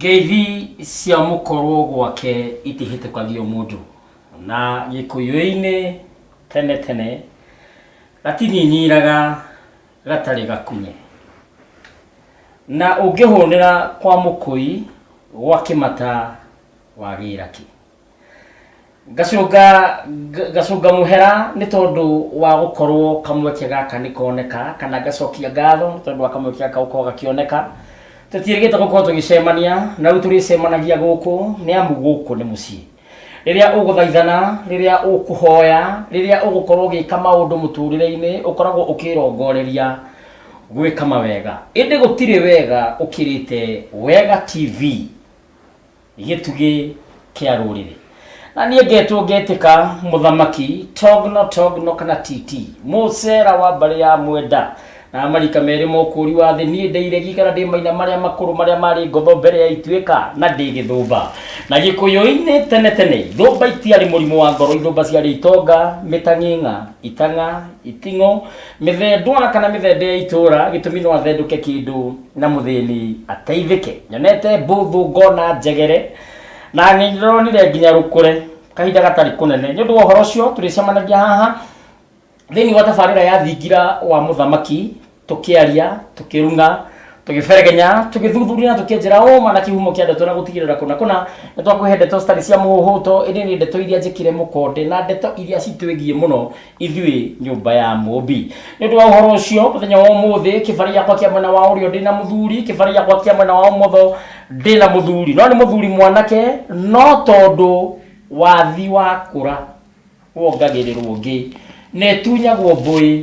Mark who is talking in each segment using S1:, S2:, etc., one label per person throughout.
S1: Ngeithi cia mũkorwo gwake itihĩtũkagio mũndũ na gĩkũyũ-inĩ tene tene gatinyinyiraga gatarĩ gakunye na ũngĩhũnĩra kwa mũkũi gwa kĩmata wagĩra kĩ ngacũnga nga- ngacũnga mũhera nĩ tondũ wa gũkorwo kamweke gaka nĩ koneka kana ngacokia ngatho nĩ tondũ wa kamweke gaka gũkorwo gakĩoneka tũtiĩrĩgĩte gũkorwo tũgĩcemania na rĩu tũrĩcemanagia gũkũ nĩ amu gũkũ nĩ mũciĩ rĩrĩa ũgũthaithana rĩrĩa ũkũhoya rĩrĩa ũgũkorwo ũgĩka maũndũ mũtũrĩre-inĩ ũkoragwo ũkĩrongoreria gwĩka mawega ĩndĩ gũtirĩ wega ũkĩrĩte wega tv gĩtugĩ kĩa rũrĩrĩ na niĩ ngetwo ngetĩka mũthamaki togno togno kana titi mũcera wa mbarĩ ya mwenda na marika merĩ ma ũkũũri wa thĩ niĩ ndĩ iregi kana ndĩ maina marĩa makũrũ marĩa marĩ ngotho mbere ya ituĩka na ndĩ gĩthũmba na gĩkũyũ-inĩ tene tene thũmba itiarĩ mũrimũ wa ngoro ithũmba ciarĩ itonga mĩtang'ing'a itang'a iting'o Mĩthendwa kana mĩthende ya itũũra gĩtũmi no athendũke kĩndũ na mũthĩni ateithĩke. Nyonete mbũthũ ngona njegere na nĩndĩronire nginya rũkũre kahinda gatarĩ kũnene. Nĩ ũndũ wa ũhoro ũcio tũrĩcemanagia haha thĩinĩ wa tabarĩra ya thingira wa mũthamaki tũkĩaria tũkĩruna tũgĩberegenya tũgĩthuthuria na tũkĩenjera ũma na kĩhumo kĩa ndeto na gũtigĩrĩra kũna kũna nĩ twakũhe ndeto citarĩ cia mũhũhũto ĩndĩ nĩ ndeto iria njĩkĩre mũkonde na ndeto iria citwĩgiĩ mũno ithuĩ nyũmba ya mũmbi nĩ ũndũ wa ũhoro ũcio mũthenya wa ũmũthĩ kĩbarĩ gĩakwa kĩa mwena wa ũrĩo ndĩ na mũthuri kĩbarĩ gĩakwa kĩa mwena wa ũmotho ndĩ na mũthuri no nĩ mũthuri mwanake no tondũ wathi wakũra wongagĩrĩrwo ũngĩ na ĩtunyagwo mbũĩ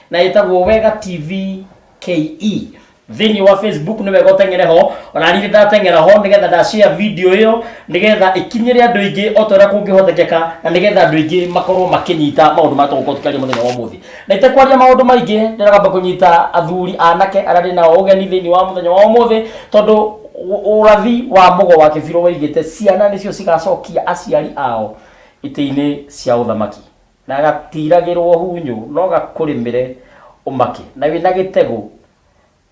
S1: na ĩtagwo wega tv ke thĩinĩ wa facebook nĩ wega ũteng'ere ho ona niĩ ndateng'era ho nĩgetha ndashia video ĩyo nĩgetha ĩkinyĩre andũ aingĩ o ta ũrĩa kũngĩhotekeka na nĩgetha andũ aingĩ makorwo makĩnyita maũndũ marĩa tũgũkorwo tũkĩaria mũthenya wa ũmũthĩ na itekwaria maũndũ maingĩ ndĩragamba kũnyita athuri anake arĩa ndĩ nao ũgeni thĩinĩ wa mũthenya wa ũmũthĩ tondũ ũ- ũrathi wa mũgo wa kĩbirũ waigĩte ciana nĩcio cigacokia aciari ao itĩ-inĩ cia ũthamaki Na gatiiragĩrwo hunyũ no gakũrĩmĩre ũmake, na wĩ na gĩtegũ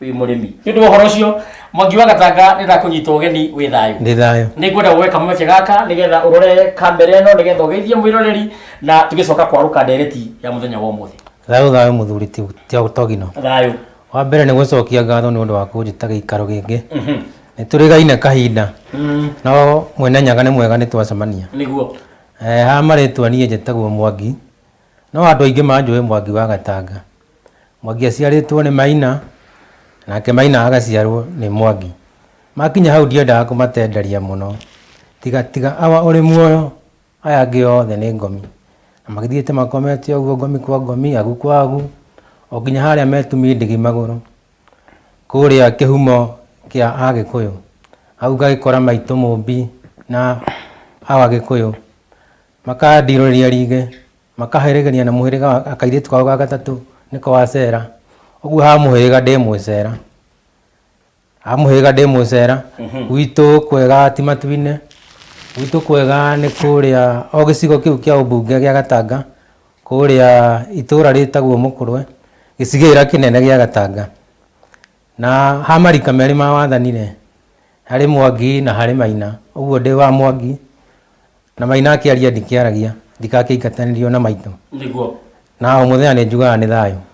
S1: wĩ mũrĩmi. Nĩ ũndũ wa ũhoro ũcio, Mwangi wa Gatanga nĩ ndakũnyita ũgeni wĩ thayũ. Ndĩ thayũ. Nĩ ngwenda woe kamweke gaka nĩ getha ũrore kamera ĩno nĩ getha ũgeithie mwĩroreri na tũgĩcoka kwarũka ndereti ya mũthenya wa ũmũthĩ. Thayũ thayũ mũthuri
S2: Togino. Thayũ.
S1: Wa mbere nĩ
S2: gũcokia ngatho nĩ ũndũ wa kũnjĩta gĩikaro gĩkĩ. Nĩ tũrĩgaine kahinda no Mwene Nyaga nĩ mwega nĩ twacemania. Nĩguo.
S1: Eeh ha
S2: marĩtwa niĩ njĩtagwo Mwangi, no andũ aingĩ manjũĩ Mwangi wa Gatanga. Mwangi aciarĩtwo nĩ Maina, nake Maina agaciarwo nĩ Mwangi. Makinya hau ndiendaga kũmatenderia mũno, tiga tiga awa ũrĩ muoyo, aya angĩ othe nĩ ngomi. Na magĩthiĩte makomete ũguo ngomi kwa ngomi, agu kwa agu, o nginya harĩa me tumi ndigi magũrũ. Kũrĩa kĩhumo kĩa Agĩkũyũ, auga gĩkora maitũ mũmbi na a Agĩkũyũ makandirũrĩria ringĩ makaherĩgĩria na mũhĩrĩga wa akairĩtu kao ga gatatũ nĩko wacera ũguo ha mũhĩrĩga ndĩ mwĩcera ha mũhĩrĩga ndĩ mwĩcera gwitũ kwega ti matu-inĩ gwitũ kwega nĩ kũrĩa o gĩcigo kĩu kĩa ũmbunge gĩa Gatanga Kũũrĩa itũũra rĩĩtagwo Mũkũrwe, gĩcigĩĩra kĩnene gĩa Gatanga. Na ha marika meerĩ ma wathani-rĩ, harĩ Mwangi na harĩ Maina. Ũguo ndĩ wa Mwangi, na Maina akĩaria ndikĩaragia, ndikakĩingatanĩrio na maitũ. Nĩguo. Na
S1: o mũthenya
S2: nĩnjugaga nĩ thayũ.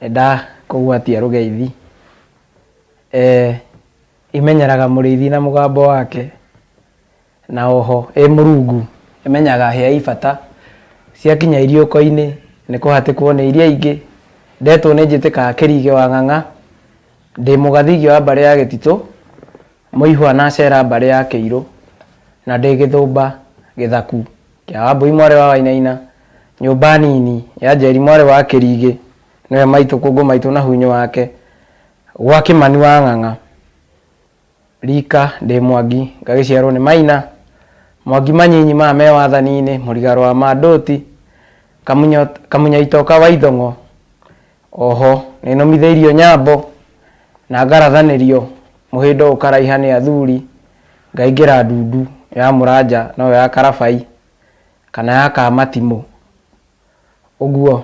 S3: Nĩndakũgwatia rũgeithi, eh, Imenyeraga mũrĩithi na mũgambo wake, Na oho ĩ mũrungu ĩmenyaga hĩa i bata, Ciakinya iriũko-inĩ nĩ kũhatĩkwo nĩ iria ingĩ, Ndetwo nĩ njĩtĩkaga kĩrigĩ wa ng'ang'a, Ndĩ mũgathigi wa mbarĩ ya gĩtitũ, Mũihwa nacera mbarĩ ya kĩirũ, Na ndĩ gĩthũmba gĩthaku. ya Wambũi mwarĩ wa Wainaina, nyũmba nini ya Njeri mwarĩ wa Kĩrigĩ, nĩwe maitũ kũngũ maitũ na hunyũ wake, gwa Kĩmani wa Ng'ang'a, rika ndĩ Mwangi ngagĩciarwo nĩ Maina, Mwangi manyinyi maya me wathani-inĩ, Mũrigarwa ma Ndũti, Kamunya Kamunyaitoka wa Ithong'o, Oho nĩnũmithĩirio nyambo, na ngarathanĩrio mũhĩndo ũkaraiha nĩ athuri, ngaingĩra ndundu ya mũranja noyo ya karabai, kana ya kamatimũ, ũguo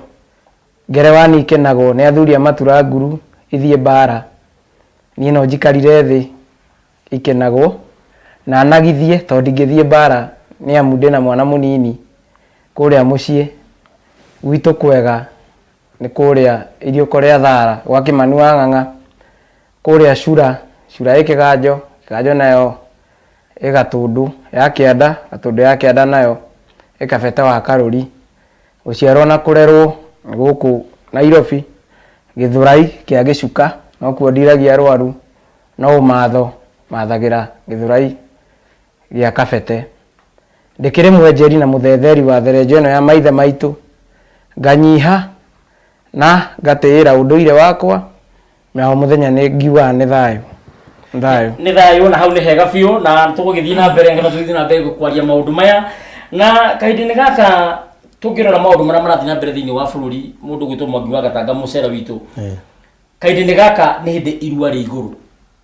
S3: ngerewa niĩ ikenagwo nĩ athuri a matura nguru ithiĩ mbara, niĩ no njikarire thĩ ikenagwo, na nagithie tondũ ndingĩthiĩ mbara nĩamu ndĩna mwana mũnini kũrĩa mũciĩ gwitũ kwega. nĩ kũrĩa iriũko rĩa thara gwa Kĩmani wa Ng'ang'a, kũrĩa Cura, Cura ĩ Kĩganjo, Kĩganjo nayo ĩ Gatũndũ ya Kĩanda, Gatũndũ ya Kĩanda nayo ĩ Kabete wa Karũri. Gũciarwo na kũrerwo nĩ gũkũ Nairobi, Gĩthũrai kĩa Gĩcuka, no kuo ndiragia arwaru, no ũmatho mathagĩra Gĩthũrai gĩa Kabete. Ndĩkĩrĩ mwenjeri na mũthetheri wa therenjo ĩno ya maithe maitũ, nganyiha na ngatĩĩra ũndũire wakwa, na o mũthenya nĩ ngiugaga nĩ thayũ, nĩ thayũ. Nĩ thayũ na hau nĩ hega
S1: biũ na tũgũgĩthiĩ na mbere ngetha tũgĩthiĩ na mbere kwaria maũndũ maya. Na kahinda-inĩ gaka tũngĩrora maũndũ marĩa marathiĩ na mbere thĩinĩ wa bũrũri, mũndũ ũgwĩtwo Mwangi wa Gatanga Mũcere witũ, kahinda-inĩ gaka nĩ hĩndĩ irua rĩ igũrũ.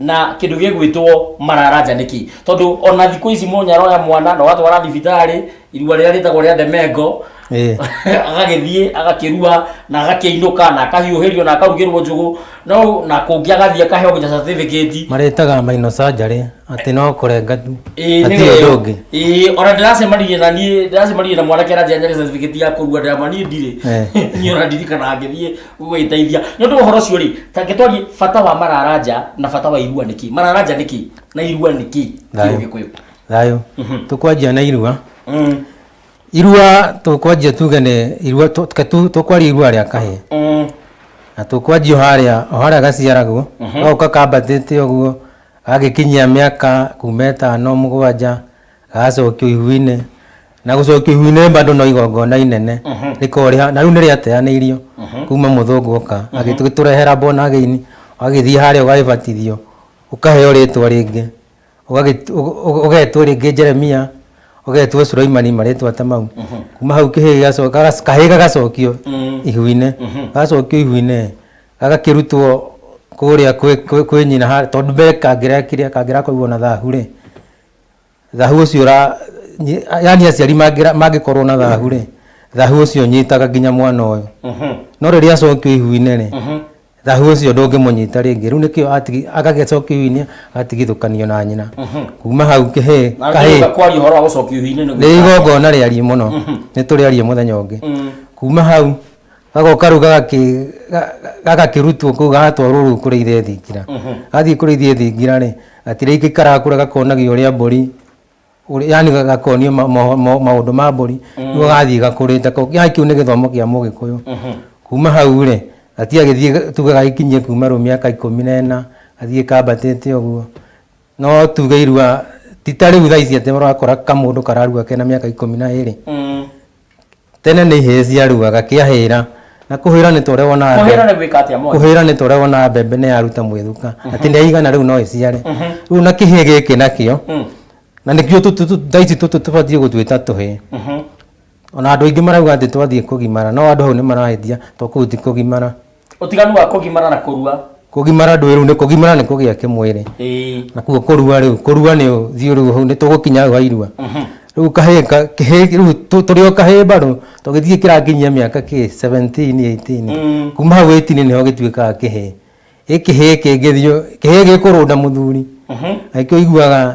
S1: na kindu gigwitwo mararanja niki tondu ona thiku ici mundu aroya mwana na watwara thibitari irua riria ritagwo ria ndemengo Eh. agagithie agakirua na agakiinuka na akahiuhirio na akarugirwo njugu no na kungi agathie akaheo nginya certificate maretaga maino
S2: surgery ati no kurenga tu Ĩĩ, ati nĩwe. undu ungi Ĩĩ, ona ndĩracemanirie na
S1: niĩ ndĩracemanirie na mwanake aranjia nyarĩ certificate ya kũrua ndĩramwani ndirĩ Eh. niĩ ona ndirikana ngĩthiĩ gwĩteithia nĩ ũndũ wa ũhoro ũcio rĩ ta ngĩtwarie bata wa mararanja na bata wa irua nĩkĩ mararanja nĩkĩ na irua nĩkĩ Thayũ. gĩkũyũ thayå
S2: tå kwanjia na irua Mm, irua tå kwanjia tuge nĩ irua tũ- tũke tu- tå kwaria irua rĩa kahä mm, na tå kwanjia harä o harä a gaciaragwo gagoka kambatä te å guo gagä kinyia mä aka kuma ätano må gwanja gagacokio ihu-inĩ na gũcokio ihu-inĩ bado no igongona inene rĩkorĩha na rĩu nĩ rĩateanĩirio kuma mũthũngũ oka agĩtũrehera born again agĩthiĩ harĩa ũgagĩbatithio ũkaheo rĩtwa rĩngĩ ũgagĩtu- ũg- ũg- ũgetwo rĩngĩ Jeremia ũgetwo Suraimani marĩtwa ta mau kuma hau kĩhĩ gĩgaco- gaga- kahĩ gagacokio ihu-inĩ gagacokio ihu-inĩ gagakĩrutwo kũrĩa kwĩ- kwĩ kwĩ nyina ha- tondũ mbere kangĩrekire kangĩrakorirwo na thahu rĩ Thahu ũcio ũra nyi- yaani aciari mangĩra- mangĩkorwo na thahu rĩ thahu ũcio ũnyitaga nginya mwana ũyũ no rĩrĩa acokio ihu-inĩ rĩ thahu ũcio ndũngĩmũnyita rĩngĩ rĩu nĩkĩo atigi- agagĩcokio ihu-inĩ agatigithũkanio na nyina kuma hau kĩhĩ Na kahĩ nginya kwaria ũhoro wa gũcokio ihu-inĩ nĩ nĩ gwĩka atĩa? igongona rĩariĩ mũno nĩ tũrĩarie mũthenya ũngĩ kuma hau gago karu gagaki- ga- ga- gagakĩrutwo kũu gagatwarwo rũu kũrĩithia thingira gathiĩ kũrĩithia thingira rĩ gatirĩ gĩikaraga kũrĩa gakonagia ũrĩa mbũri ũrĩa- yani ga- gakonio ma- mo- mo- maũndũ ma mbũri nĩguo gathiĩ gakũrĩte kau yani kĩu nĩ gĩthomo kĩa mũgĩkũyũ kuma hau rĩ gatiagĩthiĩ tuge gagĩkinyie kuma rũu mĩaka ikũmi na ĩna gathiĩ kambatĩte ũguo no tuge irua ti ta rĩu thaa ici atĩ ũrakora kamũndũ kararua kena mĩaka ikũmi na ĩrĩ Tene nĩ ihĩĩ ciarugaga kĩahĩra na kũhĩra nĩ tũrĩa wonaga Kũhĩra mbembe- nĩ gwĩka atĩa mwana? kũhĩra nĩ tũrĩa wonaga mbembe nĩ yaruta mwĩthuka atĩ nĩ yaigana rĩu no ĩciare rĩu na kĩhĩĩ gĩkĩ nakĩo Mm. na nĩkĩo tũtũ- tũtũ- thaa ici tũtũ tũbatiĩ gũtwĩta tũhĩĩ Mhm. ona andũ aingĩ marauga atĩ twathiĩ kũgimara no andũ hau nĩ marahĩtia tondũ kũu ti kũgimara Ũtiganu wa
S1: kũgimara na kũrua. Kũgimara ndũĩ rĩu nĩ
S2: kũgimara nĩ kũgĩa kĩmwĩrĩ. Ĩĩ. Na kuo kũrua rĩu, kũrua nĩ ũthiũ rĩu hau nĩ tũgũkinya hau ha irua. Rĩu kahĩĩ ka- kĩhĩĩ rĩu tũ- tũrĩ o kahĩĩ mbarũ tũgĩthiĩ kĩrakinyia mĩaka kĩ 17, 18. Kuma hau 18 nĩho gĩtuĩkaga kĩhĩĩ. Ĩ kĩhĩĩ kĩngĩthiĩ kĩhĩĩ gĩkũrũnda mũthuri. Na nĩkĩo ũiguaga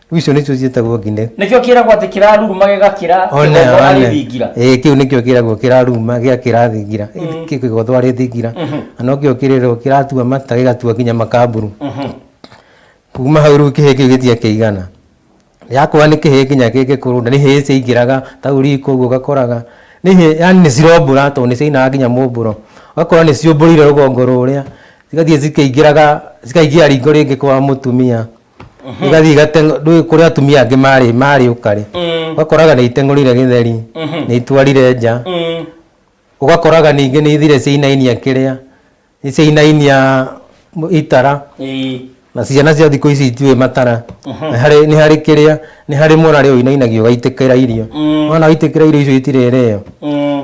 S2: Rĩu icio nĩcio ciĩtagwo ngine nĩkĩo kĩragwo atĩ
S1: kĩraruruma gĩgakĩra One, kĩgogo one. arĩthingira Ĩĩ, kĩu nĩkĩo kĩragwo
S2: kĩraruma gĩa kĩrathingira kĩgothwo arĩthingira na nokĩo kĩrĩrwo kĩratua mata gĩgatua nginya makamburu kuma hau rĩu kĩhĩĩ kĩu gĩtia kĩigana yakũra nĩ kĩhĩĩ nginya kĩngĩkũrũnda nĩ hĩĩ ciaingĩraga ta ũriko ũguo ũgakoraga nĩ hĩĩ yani nĩ cirombũra tondũ nĩ ciainaga nginya mũmbũro ũgakora nĩ ciũmbũrire rũgongo rũrĩa cigathiĩ cikĩingĩraga cikaingĩra ringo rĩngĩ kwa mũtumia igathiĩ igateng'o ndũĩ kũrĩ atumia angĩ marĩ marĩ ũkarĩ Mm. ũgakoraga nĩ iteng'ũrire gĩtheri Mhm. nĩ itwarire nja Mm. ũgakoraga ningĩ nĩ ithire ciainainia kĩrĩa nĩ ciainainia m- itara Ĩĩ. na ciana cia thikũ ici itiũĩ matara Nĩ harĩ- nĩ harĩ kĩrĩa nĩ harĩ mwana rĩu ũinainagio ũgaitĩkĩra irio Mm. mwana waitĩkĩra irio icio itirĩrĩo Mm.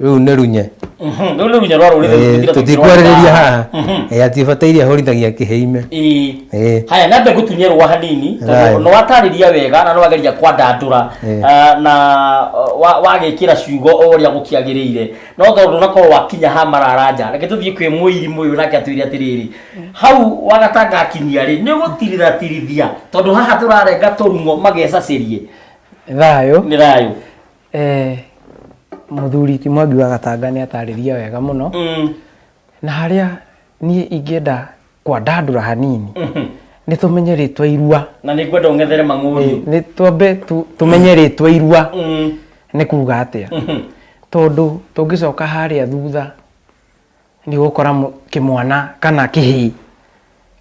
S2: rĩu nĩ runye Mhm, rĩu nĩ runya rwa rũrĩrĩ Eh, rũtira tũtikwarĩrĩria haha Mhm. Eh, atibataire ahorithagia kĩheime Ĩĩ. Eh. haya
S1: nambe ngũtunye rwa hanini Haya. tondũ nĩwatarĩria wega na nĩwageria kwandandũra Eh. ah, na uh, wa- wagĩkĩra ciugo o ũrĩa gũkĩagĩrĩire no tondũ nakorwo wakinya ha mararanja reke tũthiĩ kwĩ mũirimũ ũyũ nake atwĩre atĩrĩrĩ hau wagatanga akinyia rĩ nĩ gũtiriratirithia tondũ haha tũrarenga tũrung'o magecacĩrie thayũ
S3: nĩ thayũ
S1: Eh,
S3: mũthuri ti mwangi wa gatanga nĩ atarĩria wega mũno na harĩa niĩ ingĩenda kwandandũra hanini nĩ tũmenye rĩtwa irua na nĩ ngwenda ũng'ethere
S1: mang'ũri nĩ twambe tu-
S3: tũmenye rĩtwa irua Mm. nĩ kuga atĩa tondũ tũngĩcoka harĩa thutha nĩ ũgũkora mũ- kĩmwana kana kĩhĩĩ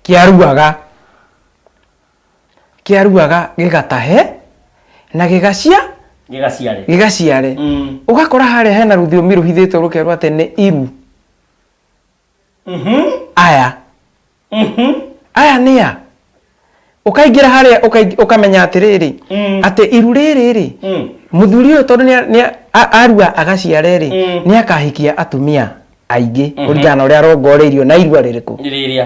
S3: kĩaruaga kĩaruaga gĩgatahe na gĩgacia gĩgaciare gĩgaciare Mm. ũgakora harĩa hena rũthiomi rũhithĩtwo rũkerwo atĩ nĩ iru Mhm. aya Mhm. aya nĩ a ũkaingĩra harĩa ũkaing- ũkamenya atĩrĩrĩ Mm. atĩ iru rĩrĩ rĩ Mm. mũthuri ũyũ tondũ nĩa- nĩa- a- arua agaciare rĩ Mm. nĩ akahikia atumia aingĩ kũringana na ũrĩa arongoreirio na irua rĩrĩkũ Rĩrĩa.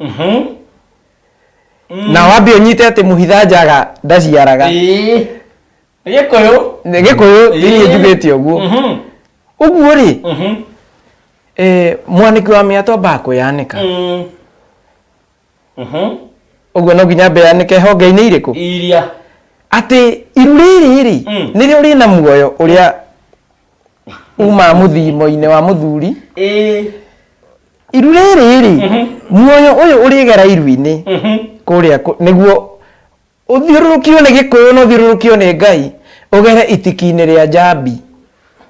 S3: Mhm. Mm. na wambe ũnyite atĩ mũhitha njaga ndaciaraga Ĩĩ. Nĩ gĩkũyũ Nĩ gĩkũyũ thĩinĩ Ĩĩ. njugĩte ũguo Mhm. ũguo rĩ Mhm. eh, mwanĩki wa mĩato ambaga kwĩyanĩka Mm. Mhm. ũguo no nginya ambe yanĩke honge-inĩ irĩkũ iria atĩ iru rĩrĩ rĩ Mm. nĩrĩo rĩna muoyo ũrĩa uma muthimo-inĩ wa muthuri ĩĩ iru rĩrĩ rĩ muoyo ũyũ ũrĩgera iru-inĩ kũrĩa kũ- nĩguo ũthiũrũrũkio nĩ gĩkũyũ na ũthiũrũrũkio nĩ ngai ũgere itiki-inĩ rĩa njambi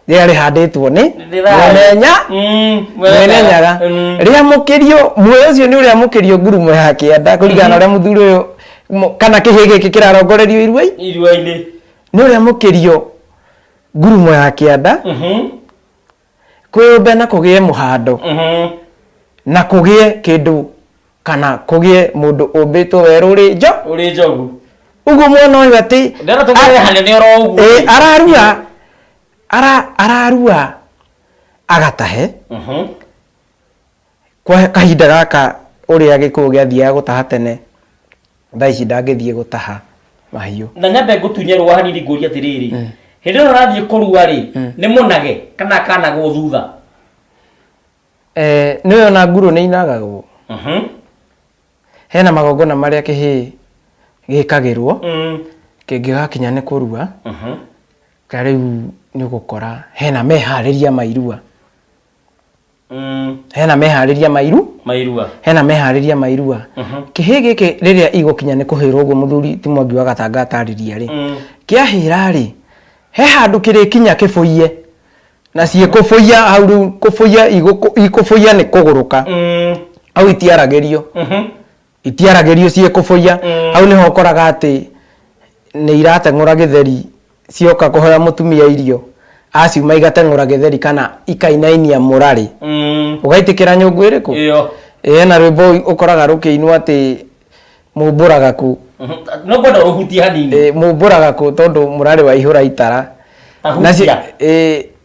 S3: rĩrĩa rĩhandĩtwo nĩ mwenenya Mm, mwenenyaga Mm. rĩamũkĩrio muoyo ũcio nĩ ũrĩamũkĩrio ngurumo ya kĩanda kũringana na ũrĩa mũthuri ũyũ mo- kana kĩhĩ gĩkĩ kĩrarongorerio iruai iruainĩ nĩ ũrĩamũkĩrio ngurumo ya kĩanda Mhm. kwĩyũmbe na kũgĩe mũhando Mhm. na kũgĩe kĩndũ kana kũgĩe mũndũ ũmbĩtwo werũrĩ njo Ũrĩ njogu. ũguo mwana ũyũ atĩ Ndero tũkore hanene oro ũguo. Ĩĩ, ararua ara, ararua agatahe Mhm. Kwa kahinda gaka ũrĩa gĩkũyũ gĩathiaga gũtaha tene, thaa ici ndangĩthiĩ gũtaha mahiũ. Na nyambe ngũtunye
S1: rũa hanini ngũrie atĩrĩrĩ, hĩndĩ ĩrĩa ũrathiĩ kũrua rĩ, nĩ mũnage kana akanagwo thutha?
S3: Nĩ ũĩ ona ngurũ nĩ inagagwo. Hena magongona marĩa kĩhĩĩ gĩkagĩrwo kĩngĩgakinya nĩ kũrua, ta rĩu nĩ ũgũkora hena meharĩria ma irua. Mm. hena meharĩria mairu mairua hena meharĩria mairua Mhm. kĩhĩ gĩkĩ rĩrĩa igũkinya nĩ kũhĩrwo ũguo mũthuri ti mwangi wa gatanga atarĩria rĩ Mm. kĩahĩra rĩ he handũ kĩrĩkinya kĩbũiye na ciĩ kũbũiya hau rĩu kũbũiya igũkũ- ikũbũiya nĩ kũgũrũka Mm. hau itiaragĩrio Mhm. itiaragĩrio ciĩkũbũiya mm. hau nĩho ũkoraga atĩ nĩ irateng'ũra gĩtheri cioka kũhoya mũtumia irio aciuma igateng'ũra gĩtheri kana ikainainia mũrarĩ mm. ũgaitĩkĩra nyũngũ ĩrĩkũ ĩe na rwĩmbo ũkoraga rũkĩinwo atĩ mũmbũragaku mm-hmm. no kwenda
S1: ũhutie hanini mũmbũragaku tondũ
S3: mũrarĩ wa ihũra itara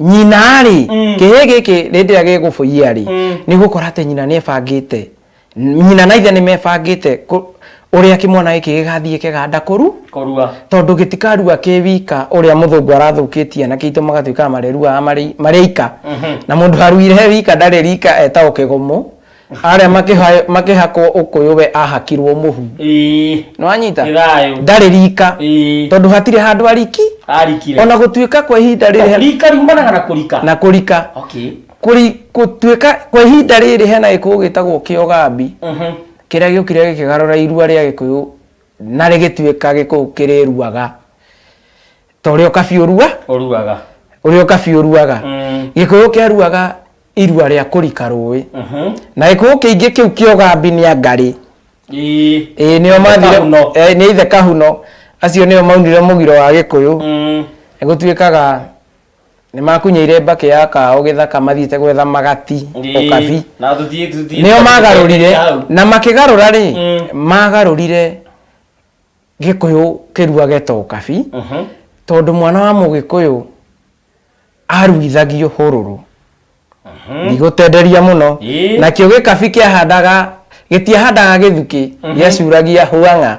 S3: nyina rĩ mm. kĩhĩ gĩkĩ rĩndĩ ĩrĩa gĩgũbũia rĩ mm. nĩ gũkora atĩ nyina nĩ ebangĩte nyina na ithe nĩ mebangĩte ũrĩa kĩmwana gĩkĩ gĩgathiĩ kĩganda kũru kũrua tondũ gĩtikarua kĩ wika ũrĩa mũthũngũ arathũkĩtie na kĩitũ magatuĩkaga mareruaga marĩ ika mhm. na mũndũ aruire wika ndarĩ rika etagwo kĩgũmũ Arĩa makĩha- makĩhakwo ũkũyũ we ahakirwo mũhu Ĩĩ. nĩwanyita Gĩthayũ. ndarĩ rika Ĩĩ. tondũ hatirĩ handũ ariki Arikire. ona gũtuĩka kwa ihinda rĩrĩ Rika riumanaga na kũrika.
S1: na kũrika Okay. Kũri-
S3: gũtuĩka kwa ihinda rĩrĩ hena gĩkũyũ gĩtagwo kĩogambi Mhm. kĩrĩa gĩũkire gĩkĩgarũra irua rĩa gĩkũyũ na rĩgĩtuĩka gĩkũyũ kĩrĩruaga ta ũrĩa ũkabi ũrua Ũruaga. ũrĩa ũkabi ũruaga Mm. gĩkũyũ kĩaruaga irua rĩa kũrika rũĩ na gĩkũũ kĩingĩ kĩu kĩogambi nĩ angarĩ ĩĩ nĩo mathire eh, nĩ ithe kahuno acio nĩo maunire mũgiro wa gĩkũyũ mm. gũtuĩkaga nĩ makunyĩire mbakĩ ya kaũ gĩthaka mathiĩte gwetha magati ũkabi nĩo magarũrire na makĩgarũra rĩ mm. magarũrire gĩkũyũ kĩruage to ũkabi mhm. tondũ mwana wa mũgĩkũyũ aruithagio hururu ndigũtenderia mũno Ĩĩ. nakĩo gĩkabi kĩahandaga gĩtiahandaga gĩthuki gĩacuragia hũang'a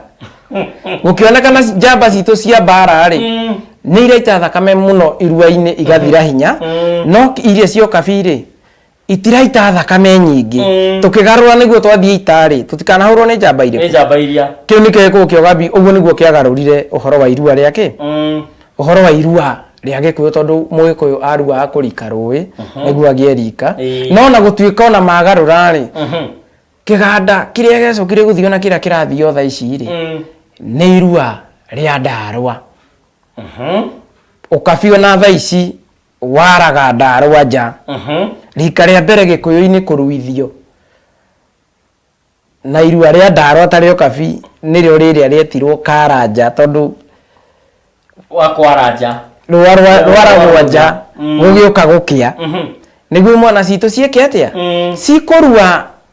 S3: gũkĩonekana ci- njamba citũ cia mbara rĩ Mm. nĩ iraita thakame mũno irua-inĩ igathira hinya Mm. no iria cia ũkabi rĩ itiraita thakame nyingĩ Mm. tũkĩgarũra nĩguo twathiĩ itarĩ tũtikanahũrwo nĩ njamba nä irĩkũ njamba iria kĩu nĩkĩo gĩkũũ kĩa ũgambi ũguo nĩguo kĩagarũrire ũhoro wa irua rĩa kĩ Mm. ũhoro wa irua rĩa gĩkũyũ tondũ mũgĩkũyũ aruaga kũrika rũĩ nĩguo agĩe rika Ĩĩ. no na gũtuĩka ona magarũra-rĩ Mhm. kĩganda kĩrĩa gĩacokire gũthiĩ ona kĩrĩa kĩrathiĩ o tha ici-rĩ Mm. nĩ irua rĩa ndarwa Mhm. ũkabi ona tha ici Waraga Ndarwa nja. Rika rĩa mbere Gĩkũyũ-inĩ kũruithio na irua rĩa Ndarwa ta rĩo Kabi nĩrĩo rĩrĩa rĩetirwo Karanja tondũ Wa Kwaranja. rũa rwa rwa ragwa nja gũgĩũka gũkĩa. Nĩguo mwana citũ ciĩke atĩa? Cikũrua.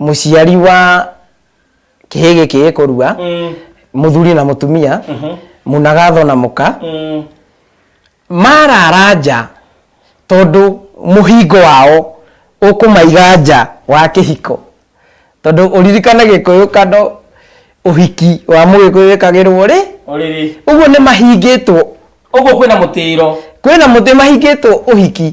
S3: mũciari wa kĩhĩ gĩkĩ gĩkũrua Mm. mũthuri na mũtumia mũnagatho na mũka Mm. marara nja tondũ mũhingo wao ũkũmaiga nja wa kĩhiko tondũ ũririkane gĩkũyũ kando ũhiki wa mũgĩkũyũ wĩkagĩrwo rĩ Ũrĩrĩ. ũguo nĩ mahingĩtwo Ũguo kwĩna
S1: mũtĩro.
S3: kwĩna mũtĩ mahingĩtwo ũhiki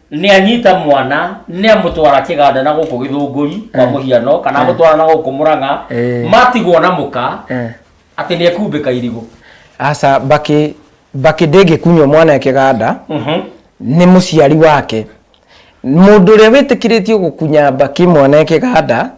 S1: nä anyita mwana nä amå twara kä ganda na gå kå gä thå ngå ri kwa må hiano kana amå twara na gå kå må rang'a Eh. matigwo na må ka Eh. atä nä ekumbä ka irigå
S3: aca
S1: mbakĩ
S3: mbakĩ ndĩngĩkunywo mwana kĩganda nĩ mũciari wake mũndũ ũrĩa wĩtĩkĩrĩtio gũkunya mbakĩ mwana kĩganda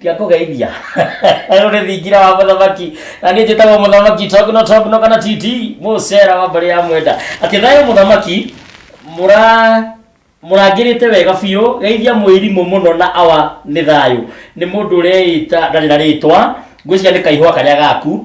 S1: tia kũgeithia rũrĩ thingira wa mũthamaki na niĩ njĩtagwo mũthamaki togno togno kana titi mũcera wa mbarĩ ya mwenda atĩ thayũ mũthamaki mũra mũrangĩrĩte wega biũ geithia mwĩrimũ mũno na awa nĩ thayũ nĩ mũndũ ũreĩta ndarĩ na rĩtwa ngwĩciria nĩ kaihũa karĩa gaku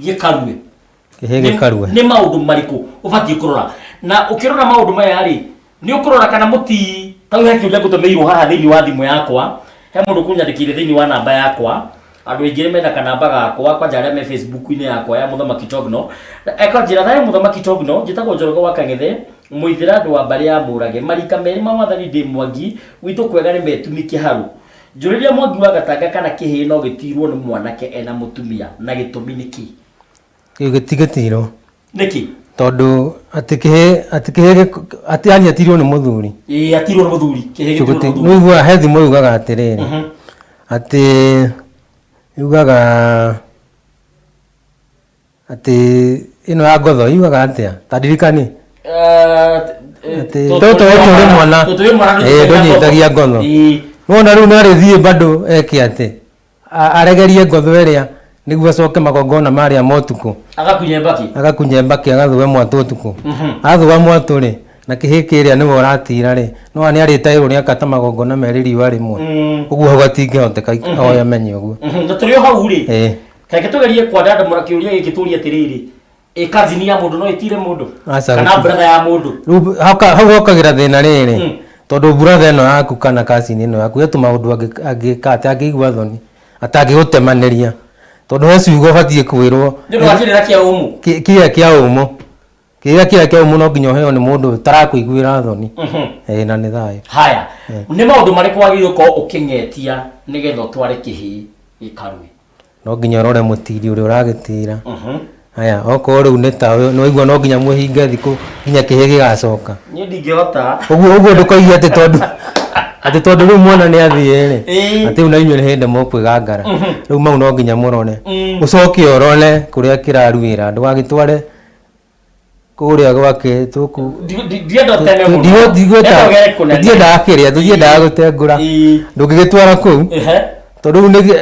S1: gĩkarue Kĩhĩ
S2: gĩkarue. nĩ maũndũ marĩkũ
S1: ũbatiĩ kũrora na ũkĩrora maũndũ maya rĩ nĩ ũkũrora kana mũti tau he kĩũria ngũtũmĩirwo haha thĩinĩ wa thimũ yakwa he mũndũ kũnyandĩkĩire thĩinĩ wa namba yakwa andũ aingĩ nĩ mena kanamba gakwa kwanja arĩa me facebook-inĩ yakwa ya mũthamaki togno ekanjĩra thayũ mũthamaki togno njĩtagwo njoroge wa kang'ethe mũithĩra andũ wa mbarĩ ya mũrage marika merĩ ma wathani ndĩ mwangi gwitũ kwega nĩ metumi kĩharũ Njũrĩria Mwangi wa Gatanga kana kĩhĩĩ no gĩtiirwo nĩ mwanake ena mũtumia na gĩtũmi nĩ kĩĩ? Kĩu gĩtigĩtiirwo.
S2: Nĩkĩ?
S1: Tondũ
S2: atĩ kĩhĩĩ atĩ kĩhĩĩ gĩk- atĩ yani atiirwo nĩ mũthuri. Ĩĩ atiirwo nĩ mũthuri.
S1: Kĩhĩĩ Kĩu gĩtiirwo nĩ gĩti- mũthuri. nĩũiguaga he thimo yugaga
S2: atĩrĩrĩ Mhm. atĩ yugaga Atĩ ĩno ya ngotho yugaga atĩa? Ta ndirikanie. Atĩ tũtũ tũrĩ mwana eh, ndũnyitagia ngotho. Nona rĩu no arĩthiĩ bado eke atĩ A- aregerie ngotho ĩrĩa nĩguo acoke magongona marĩa ma ũtukũ agakunye mbaki agakunye mbaki agathũe mwatũ ũtukũ athũa mwatũ rĩ na kĩhĩ kĩrĩa nĩwe ũratira rĩ nona nĩ arĩte ũrĩa akata magongona merĩ riũa rĩmwe ũguo hau hatingĩhoteka oya menye ũguo na tũrĩ o hau rĩ
S1: Eh. Kaĩ tugerie kwandandamũra kĩũria gĩkĩ tũrie atĩrĩrĩ, ĩ kazini ya mũndũ no ĩtire mũndũ? Aca Kana gũtirĩ. brother ya mũndũ? Rĩu hauka- hau hokagĩra
S2: thĩna rĩrĩ Mm. tondũ buratha ĩno yaku kana kacini ĩno yaku ĩtũ maũndũ angĩ- angĩka atĩ angĩigua thoni atangĩgũtemanĩria tondũ he ciugo ũbatiĩ kwĩrwo Nĩ ũndũ wa kĩrĩra kĩa
S1: ũmũ. kĩ- kĩrĩa kĩa ũmũ
S2: Kĩrĩa kĩrĩa kĩau mũno nginya ũheo nĩ mũndũ ũtarakũiguĩra thoni. Ĩĩ na nĩ thayũ. haya nĩ
S1: maũndũ marĩkũ wagĩrĩirwo gũkorwo ũkĩng'etia nĩgetha ũtware kĩhĩĩ gĩkarue No nginya
S2: ũrore mũtiri ũrĩa ũragĩtĩra. Haya okorwo rĩu nĩ ta ũyũ nĩ waigua no nginya mwĩhinge thikũ nginya kĩhĩĩ gĩgacoka. niĩ ndingĩhota
S1: Ũguo ũguo ndũkoige
S2: atĩ tondũ atĩ tondũ rĩu mwana nĩ athiĩ-rĩ Ĩĩ. atĩ rĩu na inyuĩ nĩ hĩndĩ mũkwĩgangara. Rĩu mau no nginya mũrore. Ũcoke ũrore kũrĩa kĩraruĩra ndũgagĩtware kũrĩa gwake tũkũ Ndi- ndi- ndienda ũteme mũno. Ndienda Ndienda ũgere kũnene. ndiendaga kĩrĩa tũtiendaga gũtengũra Ii. ndũngĩgĩtwara kũu Ehe. tondũ rĩu nĩ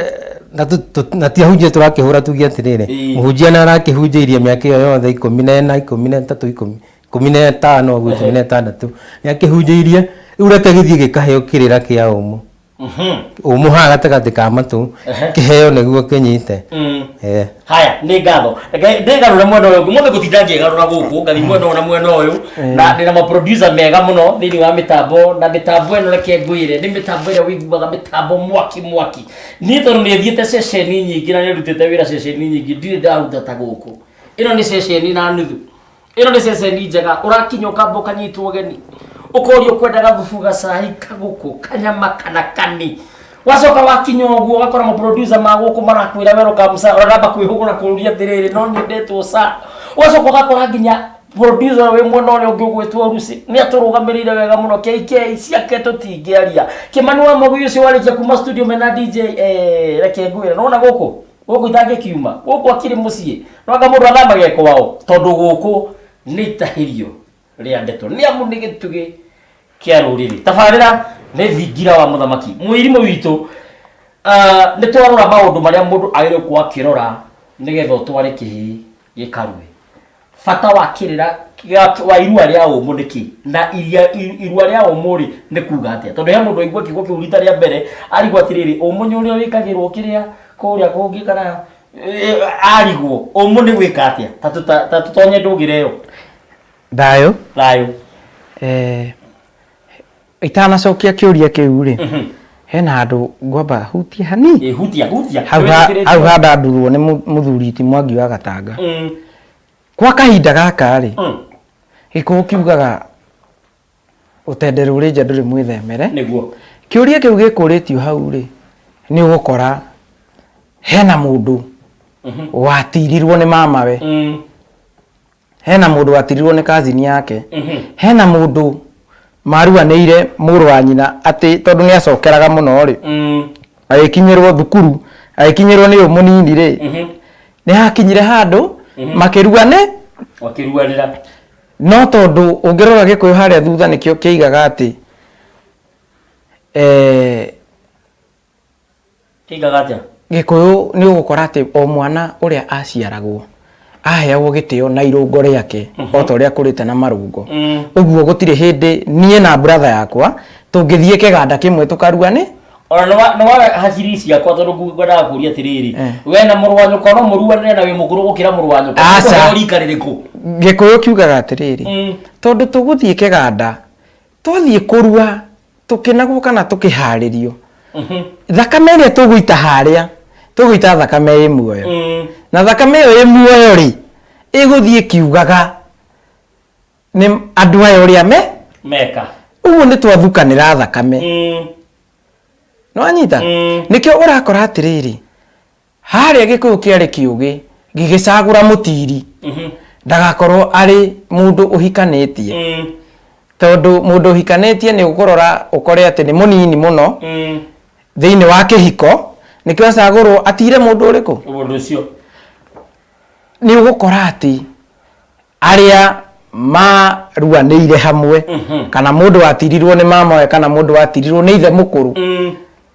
S2: na tũ- tũ- na ti ahunjia tũrakĩhũra tuge atĩrĩrĩ Ii. mũhunjia na arakĩhunjĩirie mĩaka ĩyo yothe ikũmi na ĩna ikũmi na ĩtatũ ikũmi ikũmi na ĩtano ũguo ikũmi na ĩtandatũ nĩ akĩhunjĩirie rĩu reke gĩthiĩ gĩkaheo kĩrĩra kĩa ũmũ umuha gatagatĩ ka matũ kĩheo nĩguo kĩnyite mm. eh. haya
S1: nĩ ngatho ndĩgarũre mwena ũyũ ngũ mũthĩ gũtinda ngĩgarũra gũkũ ngathi mwena ũyũ na mwena ũyũ eh. na ndĩna maproducer mega mũno thĩinĩ wa mĩtambo na mĩtambo ĩno reke ngwĩre nĩ mĩtambo ĩrĩa wĩiguaga mĩtambo mwaki mwaki niĩ tondũ nĩ thiĩte ceceni nyingĩ na nĩ ndutĩte wĩra ceceni nyingĩ ndirĩ ndaruta ta gũkũ ĩno nĩ ceceni na nuthu ĩno nĩ ceceni njega ũrakinya ũkamba ũkanyitwo ũgeni ũkoria ũkwenda gathubu gacai kagũkũ kanyama kana kani wacoka wakinya ũguo ũgakora maproducer ma gũkũ marakwĩra welcome sir ũraramba kwĩhũgũra kũũria atĩrĩrĩ no nyendetwo sir ũgacoka ũgakora nginya producer wĩ mwena ũrĩa ũngĩ ũgwĩtwo rusi nĩ atũrũgamĩrĩire wega mũno kk ciake tũtingĩaria kĩmani wa mũgĩ ũcio warĩkia kuma studio mena dj eh, reke ngwĩre nona gũkũ gũkũ itangĩkiuma gũkũ akiri mũciĩ noga mũndũ athamagia kwao tondũ gũkũ nĩ itahĩrio rĩa ndeto nĩ amu nĩ gĩtugĩ kĩa rũrĩrĩ tabarĩra nĩ thingira wa mũthamaki mũirimũ witũ ah, nĩ twarora maũndũ marĩa mũndũ agĩrĩirwo gũkorwo akĩrora nĩgetha ũtware kĩhĩĩ gĩkarue bata wa kĩrĩra gĩa- wa irua rĩa ũmũ nĩ kĩ na iria- i- irua rĩa ũmũ rĩ nĩ kuga atĩa tondũ he mũndũ aigua kiugo kĩu rita rĩa mbere arigwo atĩrĩrĩ ũmũ nĩ ũrĩa wĩkagĩrwo kĩrĩa kũrĩa kũngĩ kana eh, arigwo ũmũ nĩ gwĩka atĩa Ta tũta- ta tũtonye ndũgĩre ĩyo thayũ
S3: thayũ eh, Itanacokia kĩũria kĩu rĩ mhm. hena handũ ngwamba hutie hani hutia hutia
S1: hau
S3: handa ndurwo nĩ mũthuri ti mwangi wa gatanga mm. kwa kahinda gaka rĩ mm. gĩkũũ kiugaga ũtende rũrĩ nja ndũrĩ mwĩthemere nĩguo
S1: kĩũria kĩu
S3: gĩkũrĩtio hau rĩ nĩ ũgũkora hena mũndũ mhm. watirirwo nĩ mamawe mm. hena mũndũ watirirwo nĩ kazini yake hena mũndũ maruanĩire mũrũ wa nyina atĩ tondũ nĩ acokeraga mũno rĩ Mm. agĩkinyĩrwo thukuru agĩkinyĩrwo nĩ ũyũ mũnini rĩ Mhm. nĩ hakinyire handũ makĩrua nĩ Wakĩruanĩra.
S1: no tondũ
S3: ũngĩrora gĩkũyũ harĩa thutha nĩkĩo kĩigaga atĩ eh, Kĩigaga atĩa? Gĩkũyũ nĩ ũgũkora atĩ o mwana ũrĩa aciaragwo aheagwo gĩtĩo na irũngo rĩake o ta ũrĩa akũrĩte na marũngo. Ũguo gũtirĩ hĩndĩ niĩ na brother yakwa tũngĩthiĩ kĩganda kĩmwe tũkarua nĩ... Ona nĩ wa, nĩ wa
S1: hakiri ciakwa tondũ ngwendaga kũria atĩrĩrĩ, we na mũrũ wa nyũkwa no mũruane na wĩ mũkũrũ gũkĩra mũrũ wa nyũkwa? Aca. Nĩ kũheo rika rĩrĩkũ? Gĩkũyũ kiugaga
S3: atĩrĩrĩ, tondũ tũgũthiĩ kĩganda twathiĩ kũrua tũkĩnagwo kana tũkĩharĩrio thakame ĩrĩa tũgũita harĩa tũgũita thakame ĩ muoyo Mm. na thakame ĩyo ĩ muoyo rĩ ĩgũthiĩ ĩkiugaga nĩ andũ aya ũrĩa me meka
S1: ũguo nĩ
S3: twathukanĩra thakame Mm. nĩwanyita Mm. nĩkĩo ũrakora atĩrĩrĩ harĩa gĩkũyũ kĩarĩ kĩũgĩ gĩgĩcagũra mũtiri ndagakorwo arĩ mũndũ ũhikanĩtie Mm. tondũ mũndũ ũhikanĩtie nĩ ũkũrora ũkore atĩ nĩ mũnini mũno Mm. thĩinĩ wa kĩhiko nĩkĩo acagũrwo atire mũndũ ũrĩkũ Mũndũ ũcio. nĩ ũgũkora atĩ arĩa maruanĩire hamwe kana mũndũ watirirwo nĩ mamawe kana mũndũ watirirwo nĩ ithe mũkũrũ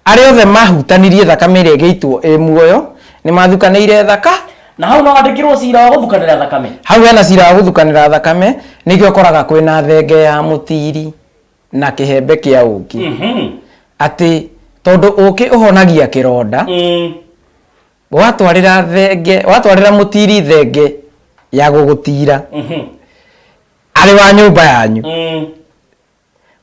S3: arĩa othe mahutanirie thakame ĩrĩa ĩgĩitwo ĩ muoyo nĩ mathukanĩire thaka na hau no wandĩkirwo
S1: cira wa gũthukanĩra thakame hau hena cira wa
S3: gũthukanĩra thakame nĩkĩo ũkoraga kwĩna thenge ya mũtiri na kĩhembe kĩa ũkĩ atĩ tondũ ũkĩ ũhonagia kĩronda watwarĩra thenge watwarĩra mũtiri thenge ya gũgũtira Mhm. arĩ wa nyũmba yanyu Mm.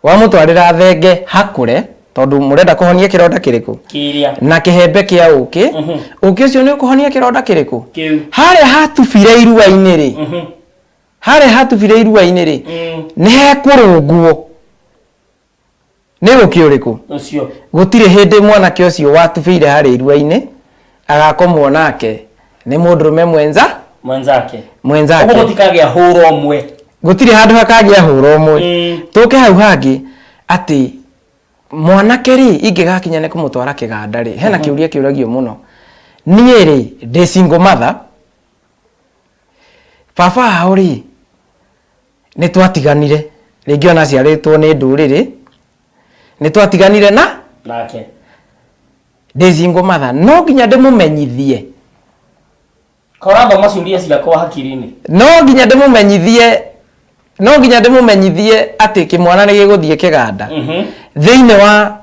S3: wamũtwarĩra thenge hakũre tondũ mũrenda kũhonia kĩronda kĩrĩkũ Kĩrĩa. na kĩhembe kĩa ũkĩ Mhm. ũkĩ ũcio nĩ ũkũhonia kĩronda kĩrĩkũ Kĩu. harĩa hatubire iruainĩ rĩ Mhm. harĩa hatubire iruainĩ rĩ Mm. nĩ hekũrũngwo Nĩ ũũkĩ ũrĩkũ? ũcio Gũtirĩ hĩndĩ mwanake ũcio watubĩire harĩa iruainĩ agakomwo nake nĩ mũndũrũme mwenza mwenzake ũguo mwenzake.
S1: gũtikagĩa hũra ũmwe Gũtirĩ handũ hakagĩa
S3: hũra ũmwe. Mm. Tũke hau hangĩ atĩ mwanake rĩ ingĩgakinya nĩ kũmũtwara kĩganda rĩ hena kĩũria kĩũragio mũno. Niĩ rĩ ndĩ single mother baba ao rĩ Nĩ twatiganire, rĩngĩ ona aciarĩtwo nĩ ndũrĩrĩ, nĩ twatiganire na Nake. ndĩ single mother. No nginya ndĩmũmenyithie,
S1: Kaĩ ũrathoma ciũria ciakwa hakiri-inĩ? no nginya
S3: ndĩmũmenyithie, no nginya ndĩmũmenyithie atĩ kĩmwana nĩ gĩgũthiĩ kĩganda Mhm. thĩinĩ wa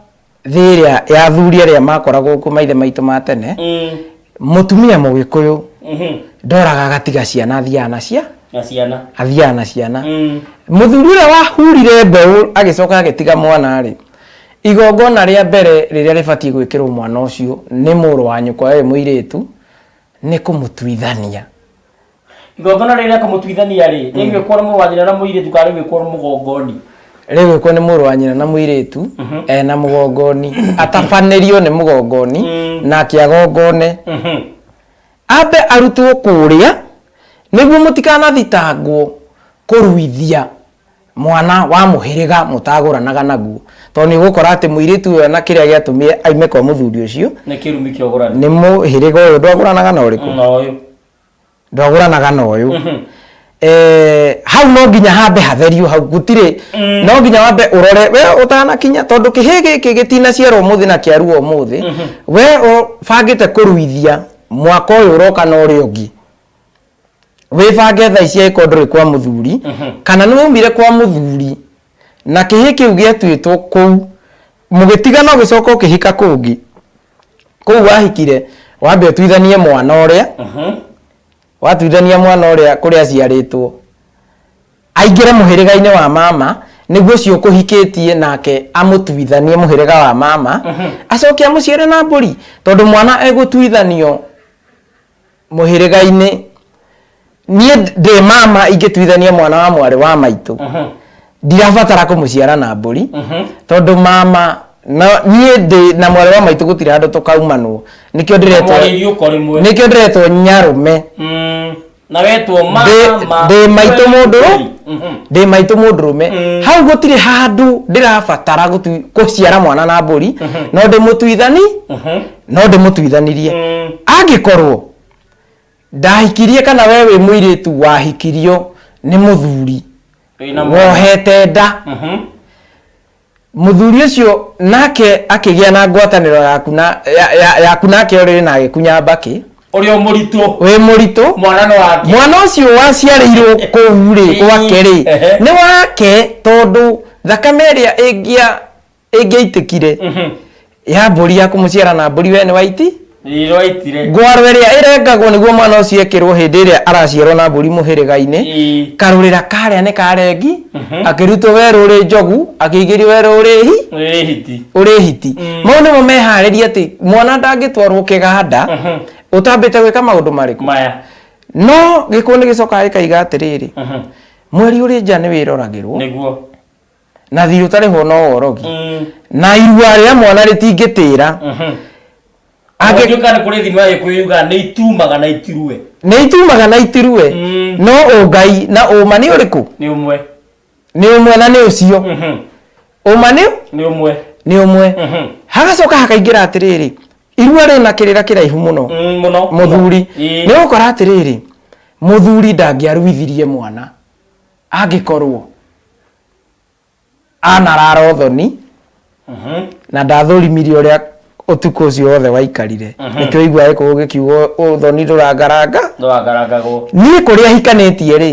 S3: thĩ ĩrĩa ya athuri arĩa makoragwo kuo maithe maitũ ma tene Mm. mũtumia mũgĩkũyũ Mhm. ndoraga agatiga ciana athiaga na cia Na ciana. athiaga na ciana Mm. mũthuri ũrĩa wahurire mbeũ agĩcoka agĩtiga mwana rĩ igongona rĩa mbere rĩrĩa rĩbatiĩ gwĩkĩrwo mwana ũcio nĩ mũrũ wa nyũkwa we mũirĩtu nĩ kũmũtuithania
S1: igongona rĩrĩ rĩa kũmũtuithania rĩ rĩgwĩkwo nĩ mũrũ wa nyina na mũirĩtu kana rĩgwĩkwo nĩ mũgongoni rĩgwĩkwo nĩ
S3: mũrũ wa nyina na mũirĩtu Mhm. eh, na mũgongoni atabanĩrio nĩ mũgongoni Mm. nake agongone Mhm. ambe arutwo kũrĩa nĩguo mũtikanathitangwo kũruithia mwana wa mũhĩrĩga mũtagũranaga naguo tondũ nĩ ũgũkora atĩ mũirĩtu ũyũ na kĩrĩa gĩatũmire aime kwa mũthuri ũcio
S1: nĩ kĩrumi kĩa ũgũrani nĩ mũhĩrĩga ũyũ
S3: ndwagũranaga na ũrĩkũ na ũyũ ndwagũranaga na ũyũ Eh, hau no nginya hambe hatherio hau gũtirĩ no nginya wambe ũrore we ũtanakinya tondũ kĩhĩ gĩkĩ gĩtinaciarwo ũmũthĩ na kĩaruo ũmũthĩ we ũbangĩte kũruithia mwaka ũyũ ũroka na ũrĩa ũngĩ wĩbange thaa ici angĩkorwo ndũrĩ kwa mũthuri kana nĩ waumire kwa mũthuri na kĩhĩ kĩu gĩatuĩtwo kũu mũgĩtigana ũgĩcoka ũkĩhika kũngĩ kũu wahikire wambe ũtuithanie mwana ũrĩa watuithania mwana ũrĩa kũrĩa aciarĩtwo aingĩre mũhĩrĩga-inĩ wa mama nĩguo ũcio ũkũhikĩtie nake amũtuithanie mũhĩrĩga wa mama acoke amũciare na mbũri tondũ mwana egũtuithanio mũhĩrĩga-inĩ niĩ ndĩ mama ingĩtuithania mwana wa mwarĩ wa maitũ ndirabatara kũmũciara na mbũri tondũ mama no niĩ ndĩ na mwarĩ wa maitũ gũtirĩ handũ tũkaumanwo nĩkĩo ndĩretwo mwarĩrie uko rimwe nĩkĩo ndĩretwo nyarume Mm, na
S1: wetwo ma Ndĩ- ma- ndĩ maitũ mũndũ
S3: Mhm. ndĩ maitũ mũndũrũme Mm. hau gũtirĩ handũ ndĩrabatara gũtu- gũciara mwana na mbũri no ndĩmũtuithani Mhm. no ndĩmũtuithanirie mm. angĩkorwo ndahikirie kana we wĩ mũirĩtu wahikirio nĩ mũthuri wohete nda mhm. mũthuri ũcio nake akĩgĩa na ngwatanĩro yaku na yaku nake ũrĩ na agĩkunya mbakĩ ũrĩa mũritũ
S1: wĩ mũritũ
S3: mwana nĩ wake mwana ũcio waciarĩirwo kũu rĩ gwake rĩ nĩ wake tondũ thakame ĩrĩa ĩngĩa ĩngĩaitĩkire ya mbũri ya kũmũciara na mbũri we nĩ waiti Nĩroitire. ngwaro ĩrĩa ĩrengagwo nĩguo mwana ũcio ekĩrwo hĩndĩ ĩrĩa araciarwo na mbũri mũhĩrĩga-inĩ Ĩ. karũrĩra karĩa nĩ karengi Mhm. akĩrutwo werũ ũrĩ njogu akĩigĩrio werũ ũrĩ hi Nĩ hiti. ũrĩ hiti Mm. mau nĩmo meharĩria atĩ mwana ndangĩtwarwo kĩganda Mhm. ũtambĩte gwĩka maũndũ marĩkũ Maya.
S1: no
S3: gĩkũũ nĩ gĩcokaga gĩkaiga atĩrĩrĩ Mhm. mweri ũrĩ nja nĩ wĩroragĩrwo Nĩguo.
S1: na thiirĩ
S3: ũtarĩhwo no worogi Mm. na irua rĩa mwana rĩtingĩtĩra
S1: Mhm. Angĩ- Angĩtuĩka nĩ kũrĩ thimo ya gĩkũyũ yugaga nĩ itumaga na itirue nĩ itumaga na itirue Mm. no ũngai
S3: na ũma nĩ ũrĩkũ nĩ ũmwe
S1: nĩ ũmwe
S3: na nĩ ũcio Mhm. ũma nĩ nĩ ũmwe nĩ ũmwe Mhm. hagacoka hakaingĩra atĩrĩrĩ irua rĩna kĩrĩra kĩraihu mũno Mm, mũno mũthuri Ĩĩ. nĩ gũkora atĩrĩrĩ mũthuri ndangĩaruithirie mwana angĩkorwo anarara ũthoni na ndathũrimire ũrĩa ũtukũ ũcio wothe waikarire nĩkĩo ũigua gĩkũgũ gĩkiuga ũthoni ndũrangaranga ndwagaragagwo niĩ kũrĩa hikanĩtie rĩ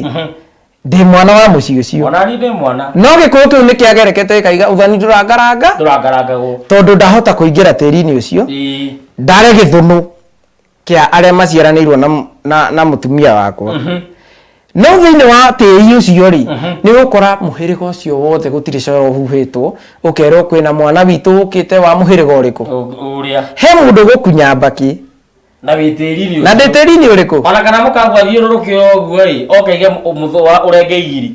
S3: ndĩ mwana wa mũciĩ ũcio ona niĩ ndĩ mwana no
S1: gĩkũgũ kĩu nĩ
S3: kĩagerekete gĩkaiga ũthoni ndũrangaranga ndũrangaragagwo tondũ ndahota kũingĩra tĩri-inĩ ũcio Ĩĩ. ndare gĩthũnũ kĩa arĩa maciaranĩirwo na, na, na mũtumia wakwa mm -hmm. no thĩinĩ wa tĩri ũcio rĩ mm -hmm. nĩ ũkora mũhĩrĩga ũcio wothe gũtirĩ coro ũhuhĩtwo ũkerwo kwĩna mwana witũ ũkĩte wa mũhĩrĩga ũrĩkũ he
S1: mũndũ gũkunya
S3: mbakĩ na wä tä
S1: ri na ndä tä ri nä å rä kå
S3: ona kana må kagwa thiå
S1: rå rå kä oguo rä okaige må thå wa å renge igiri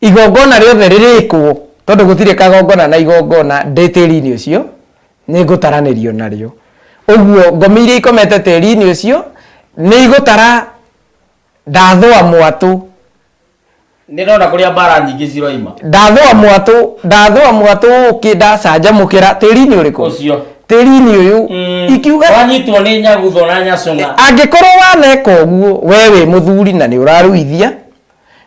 S3: Igongona rĩothe rĩrĩkwo, tondũ gũtirĩ kagongona na igongona ndĩ tĩri-inĩ ũcio, nĩngũtaranĩrio narĩo. Ũguo ngomi iria ikomete tĩri-inĩ ũcio nĩigũtara ndathũa mwatũ.
S1: Nĩndona kũrĩa mbaara nyingĩ ciroima. Ndathũa mwatũ,
S3: ndathũa mwatũ ũũkĩ ndacanjamũkĩra tĩri-inĩ ũrĩkũ? Ũcio. Tĩri-inĩ
S1: ũyũ.
S3: Umm. Ikiuga. Wanyitwo nĩ nyagutho
S1: na nyacũng'a. Angĩkorwo waneka
S3: ũguo, wee wĩ mũthuri na nĩũraruithia,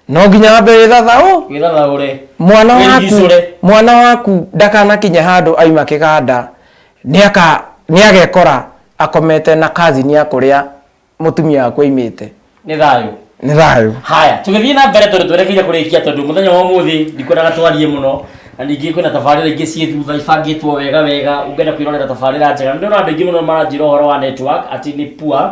S3: no nginya wambe wĩthathaũ wĩthathaũre
S1: mwana waku Wĩrigicũre.
S3: mwana waku ndakanakinya handũ aima kĩganda nĩaka nĩagekora akomete na kazini ya kũrĩa mũtumia waku aimĩte nĩ thayũ
S1: nĩ thayũ haya tũgĩthiĩ na mbere tondũ twerekeire kũrĩkia tondũ mũthenya wa ũmũthĩ ndikwendaga twarie mũno na ningĩ kwĩna tabarĩra ingĩ ciĩ thutha ibangĩtwo wega wega ũngĩenda kwĩrorera tabarĩra njega nĩ ndĩrona andũ aingĩ mũno maranjĩra ũhoro wa network atĩ nĩ poor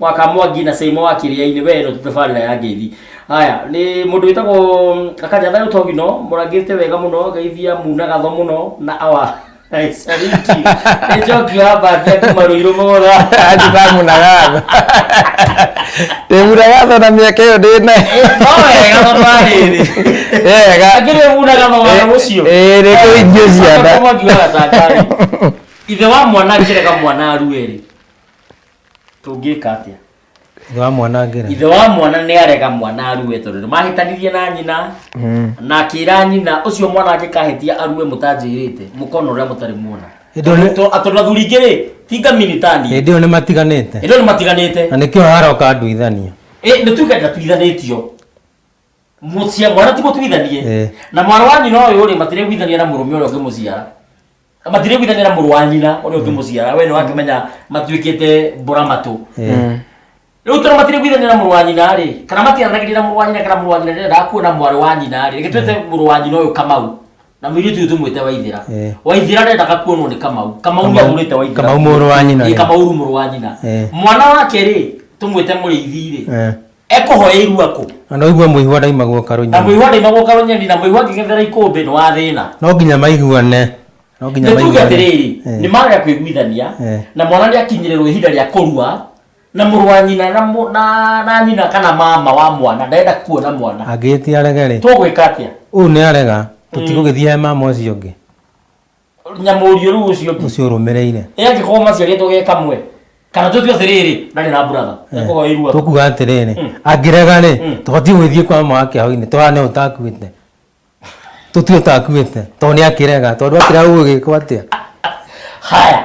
S1: wakamwa ngina seimo wa kĩrĩa-inĩ we no tũtabarĩra ya ngeithi haya nĩ mũndũ wĩtagwo mm, akaja thayũ togino mũrangĩte wega mũno geithia muna gatho mũno na awa sariti nĩ njoki wa mbathia kuma rũirũ mũgũra ndĩramunagatho
S3: ndĩmunagatho na mĩaka ĩyo ndĩ nayo no wega tondũ
S1: wa rĩrĩ wega akĩrĩ muna gatho wa ũcio ĩĩ nĩ kũingĩ
S3: ciana Mwangi wa Gatangari.
S1: ithe wa mwana angĩrega mwana aruerĩ tũngĩka atĩa ithe wa mwana ngĩra ithe wa mwana nĩ arega mwana arue tondũ nĩ mahĩtanirie na nyina Mm. na akĩra nyina ũcio mwana angĩkahĩtia arue mũtanjĩrĩte mũkona ũrĩa mũtarĩ muona Hĩndĩ ĩyo nĩ- To- a- tondũ athuri ingĩ rĩ tinga minitani hĩndĩ ĩyo nĩ matiganĩte
S2: ĩndo nĩ matiganĩte na nĩkĩo haroka nduithania Ĩ, nĩ tuge
S1: ndatuithanĩtio mũciara mwana ti mũtuithanie Eh. na mwana wa nyina ũyũ rĩ matireguithania na mũrũme ũrĩa ũngĩmũciara Na matirĩ gwithanĩra mũrũ wa nyina ũrĩa ũngĩmũciara we nĩ wakĩmenya matuĩkĩte mbũra matũ rĩu tondũ matirĩ gwithanĩra mũrũ wa nyina rĩ kana matiaranagĩria na mũrũ wa nyina kana mũrũ wa nyina ndendaga kuona mwarĩ wa nyina rĩ gĩtuĩte mũrũ wa nyina ũyũ kamau na mũirĩtu ũyũ tũmwĩte waithĩra Eh. waithĩra ndendaga kuonwo nĩ kamau kamau nĩ Kamau- athurĩte waithĩra Kamau mũrũ wa nyina, Ĩ, eh.
S2: kamau rĩu mũrũ wa nyina
S1: Eh. mwana wake rĩ tũmwĩte mũrĩithi rĩ Eh. ekũhoya irua kũ na no igue mũihwa
S2: ndaimagwo karũ na nyoni mũihwa ndaimagwo karũ
S1: nyoni na mũihwa ngĩgethera ikũmbĩ nĩ wa thĩna no nginya maiguane
S2: no nginya nĩ tuge maiguane
S1: atĩrĩrĩ Eh. nĩ marega kwĩguithania Eh. na mwana nĩ akinyĩrĩrwo ihinda rĩa kũrua na mũrũ wa nyina na mũ- na- na nyina kana mama wa mwana ndenda kuona mwana angĩtia arege rĩ
S2: tũgwĩka atĩa ũyũ
S1: nĩ arega
S2: tũtigũgĩthiae mama ũcio ũngĩ
S1: nyamũrio rĩu ũcio ũngĩ ũcio ũrũmĩrĩire ĩ angĩkorwo
S2: maciarĩtwo ge
S1: kamwe kana tũtue atĩrĩrĩ ndarĩ na brother nĩkorwo ĩ irua tũkuga atĩrĩrĩ
S2: angĩrega rĩ tũbatiĩ gwĩthiĩ kwa mama wake hau-inĩ tũhane ũtakuĩte tũtue ũtakuĩte tondũ nĩ akĩrega tondũ akĩrega gũgĩkwo atĩa haya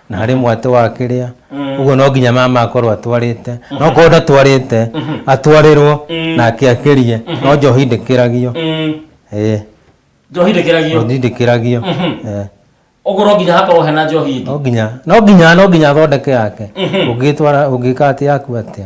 S2: na harĩ mwatĩ wa kĩrĩa ũguo no nginya mama akorwo atwarĩte no korwo ndatwarĩte atwarĩrwo nake akĩrie no njohi ndĩkĩragio Mm. ĩĩ njohi
S1: ndĩkĩragio njohi
S2: ndĩkĩragio ĩĩ.
S1: ũguo no nginya hakorwo hena njohi ĩngĩ no nginya no nginya
S2: no nginya athondeke yake ũngĩtwara ũngĩka atĩ yaku atĩa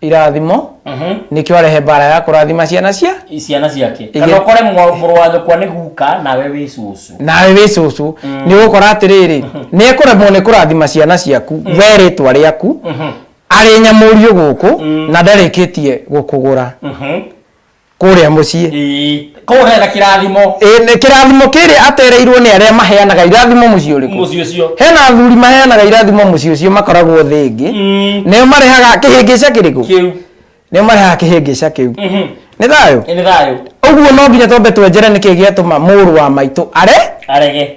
S3: irathimo nĩkĩo arehe mbara ya kũrathima ciana cia ciana ciake Ige- kana ũkore mwa-
S1: mũrũ wa nyũkwa nĩ guka nawe wĩ cũcũ nawe wĩ cũcũ nĩ ũgũkora atĩrĩrĩ nĩ ekũremwo nĩ kũrathima ciana ciaku we rĩtwa rĩaku arĩ nyamũriũ gũkũ na ndarĩkĩtie gũkũgũra Mhm. kũrĩa mũciĩ ĩĩ koguo hena kĩrathimo Ĩ, nĩ kĩrathimo
S3: kĩrĩa atereirwo nĩ arĩa maheanaga irathimo mũciĩ ũrĩkũ mũciĩ ũcio hena athuri maheanaga irathimo mũciĩ ũcio makoragwo thĩ ĩngĩ Mm, nĩo marehaga kĩhĩngĩca kĩrĩkũ kĩu nĩo marehaga kĩhĩngĩca kĩu Mhm. nĩ thayũ Ĩ, nĩ thayũ ũguo no nginya twambe twenjere nĩkĩ gĩatũma mũrũ wa maitũ are arege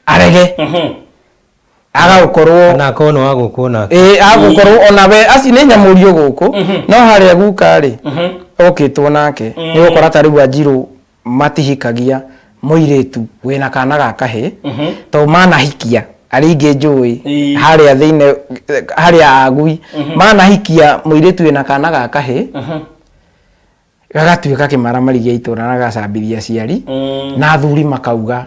S3: arege Mhm. agagũkorwo kana akorwo nĩ wa gũkũ o nake
S2: ĩĩ agũkorwo ona
S3: we aci nĩ nyamũrio gũkũ no harĩa guka rĩ okĩtwo nake nĩ gũkora ta rĩu anjirũ matihikagia mũirĩtu wĩna kana ga kahĩ to manahikia arĩa ingĩ njũĩ Ĩĩ. harĩa thĩinĩ harĩa agui manahikia mũirĩtu wĩna kana ga kahĩ gagatuĩka kĩmaramari gĩa itũra na gacambithia aciari Mm. na athuri makauga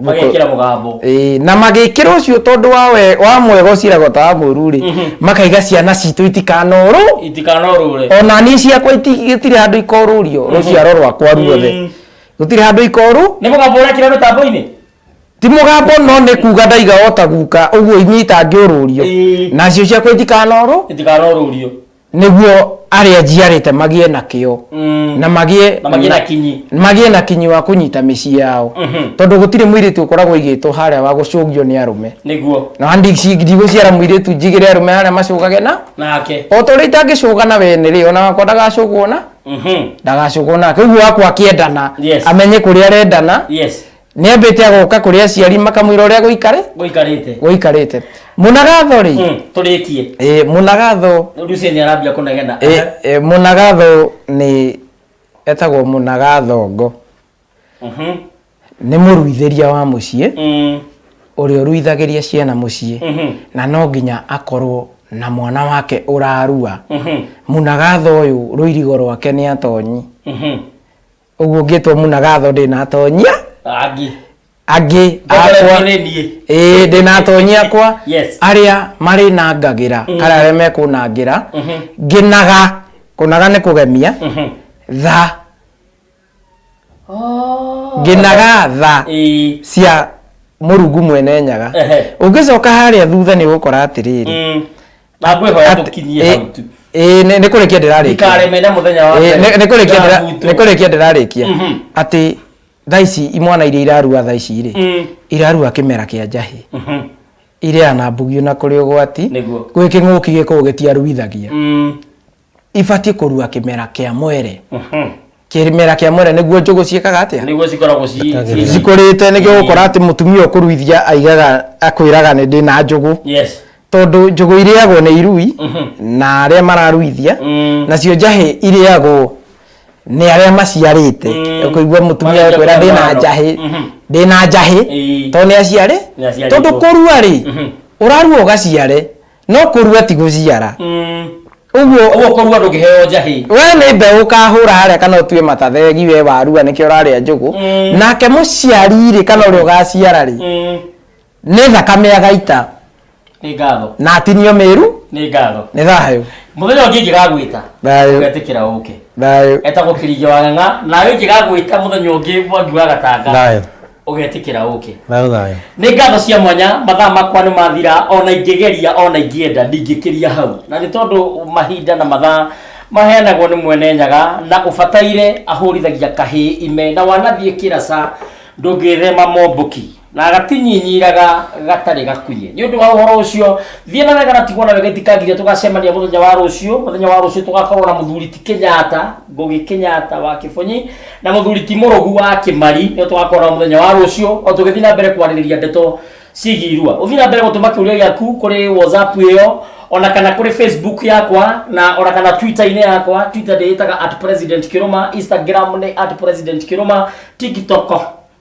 S3: magekĩra
S1: mũgambo Ĩĩ, na magĩkĩra
S3: ũcio tondũ wa we- wa mwega ũciraga ta wa mũru rĩ makaiga ciana citũ itikanorwo itikanorũre ona niĩ ciakwa iti- gũtirĩ handũ ikorũrio rũciaro rwakwa ruothe Mm. gũtirĩ handũ ikorũ nĩ mũgambo ũrekĩra
S1: mĩtambo-inĩ ti mũgambo
S3: no nĩ kuga ndaiga ota guka ũguo inyita ngĩũrũrio Ĩĩ. nacio ciakwa itikanorwo itikanorũrio nĩguo arĩa njiarĩte magĩe na kĩo Mm. na magĩe Na magĩe na kinyi. magĩe na kinyi wa kũnyita mĩciĩ yao Mhm. tondũ gũtirĩ mũirĩtu ũkoragwo igĩtwo harĩa wa gũcũngio nĩ arũme nĩguo na handi ci-
S1: ndigũciara
S3: mũirĩtu njigĩre arũme harĩa macũgage na nake o ta ũrĩa itangĩcũga na wene rĩ ona wakwa ndagacũgwo na Mhm. ndagacũgwo nake ũguo wakwa akĩendana Yes. amenye kũrĩa arendana yes nĩambĩte agoka kũrĩ aciari makamwĩra ũrĩa gũikare gũikarĩte gũikarĩte mũnagatho rĩ Mm, tũrĩkie ĩ,
S1: mũnagatho
S3: Lucy nĩ arambia
S1: kũnegena ĩ, ĩ, mũnagatho
S3: nĩ etagwo mũnagathongo Mhm. nĩ mũruithĩria wa mũciĩ Mm, ũrĩa ũruithagĩria ciana mũciĩ mhm, na no nginya akorwo na mwana wake ũrarua mhm, mũnagatho ũyũ rũirigo rwake nĩ atonyi mhm. ũguo ngĩtwo muna gatho ndĩnatonyia Angi. angĩ akwa Ndakora nĩ niĩ. ĩĩ ndĩnatonyia akwa Yes. arĩa marĩ na ngagĩra kana arĩa mekũnangĩra ngĩnaga kũnaga nĩ kũgemia tha Oh. ngĩnaga tha Ĩĩ. cia mũrungu mwene nyaga Ehe. ũngĩcoka harĩa thutha nĩ ũgũkora atĩrĩrĩ Mm. na ngwĩhoya
S1: Atĩ- tũkinyie ĩ- hau tu ĩ, nĩ nĩ kũrĩkia
S3: ndĩrarĩkia ndikareme na mũthenya wa Ĩ, nĩ-
S1: nĩ kũrĩkia ndĩra- Ndabutwo. nĩ
S3: kũrĩkia ndĩrarĩkia Mhm. atĩ thaa ici imwana iria irarua thaa ici rĩ Mm. irarua kĩmera kĩa njahĩ Mhm. iria na mbugio na kũrĩ ũgwati Nĩguo. gwĩ kĩng'ũki gĩkoragwo gĩtiaruithagia Mm. ibatiĩ kũrua kĩmera kĩa mwere kĩmera kĩa mwere nĩguo njũgũ ciĩkaga atĩa nĩguo cikoragwo ci- Itagĩrĩra.
S1: ci- cikũrĩte
S3: nĩguo gũkora atĩ mũtumia ũkũruithia aigaga akwĩraga nĩ ndĩ na njũgũ yes tondũ njũgũ irĩagwo nĩ irui na arĩa mararuithia Mm. nacio njahĩ irĩagwo nĩ arĩa maciarĩte Mm. ũkũigua mũtumia Marĩa akwĩra ndĩ na mwana. njahĩ Mhm. ndĩ na njahĩ Ĩĩ. tondũ nĩ aciare Nĩ aciarĩtwo. tondũ kũrua rĩ Mhm. ũrarua ũgaciare no kũrua ti gũciara ũguo ũguo kũrua ndũngĩheo
S1: njahĩ we nĩ mbeũ
S3: ũkahũra harĩa kana ũtue matathegi we warua nĩkĩo ũrarĩa njũgũ Mm. nake mũciari rĩ kana ũrĩa ũgaciara rĩ nĩ thakame agaita nĩ ngatho
S1: na atinio mĩru
S3: nĩ ngatho nĩ
S1: thayũ
S3: mũthenya ũngĩ ingĩgagwĩta
S1: Thayũ. ũgetĩkĩra ũke thayũ etagwo kĩringi wa ng'ang'a nawe ingĩgagwĩta mũthenya ũngĩ mwangi wa gatanga thayũ ũgetĩkĩra ũke Thayũ thayũ. nĩ ngatho cia mwanya mathaa makwa nĩ mathira ona ingĩgeria ona ingĩenda ndingĩkĩria hau na nĩ tondũ mahinda na mathaa maheanagwo nĩ mwene nyaga na ũbataire ahũrithagia kahĩ ime na wanathiĩ kĩraca ndũngĩthema momboki na agatinyinyiiraga gatarĩ gakunye nĩ ũndũ wa ũhoro ũcio thiĩ na wega na tigwo na wega itikagiria tũgacemania mũthenya wa rũciũ mũthenya wa rũciũ tũgakorwo na mũthuri ti kenyatta ngũgĩ kenyatta wa kĩbonyi na muthuri ti murugu wa kimari ni twakora muthenya wa rucio o tugithi na mbere kwaririria ndeto ciĩgiĩ irua uthi na mbere gutuma kiuria giaku kuri whatsapp iyo ona kana kuri facebook yakwa na ona kana twitter-inĩ yakwa twitter ndĩĩtaga at president kiruma instagram nĩ at president kiruma tiktok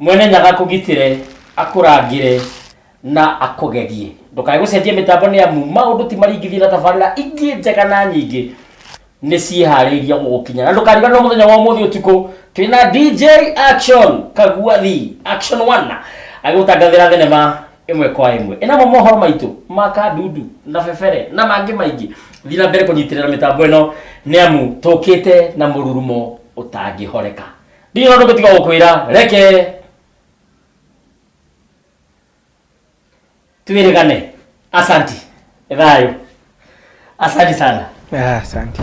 S1: Mwene Nyaga akũgitĩre, akũrangĩre na akũgerie. Ndũkae gũcenjia mĩtambo nĩ amu maũndũ ti maringithie na tabarĩra ingĩ njega na nyingĩ nĩ ciĩharĩirie gũgũkinya. Na ndũkariganĩrwo mũthenya wa ũmũthĩ ũtukũ twĩ na DJ Action Kaguathi Action One agĩgũtangathĩra thenema ĩmwe kwa ĩmwe ĩnamo mohoro maitũ ma kandudu na bebere na mangĩ maingĩ. Thiĩ na mbere kũnyitĩrĩra mĩtambo ĩno nĩ amu tũkĩte na mũrurumo ũtangĩhoreka. Ndirĩ na ũndũ ũngĩ tiga gũkwĩra reke twĩrĩgane. Asanti. Nĩ thayũ. Asanti sana. Ah, asante.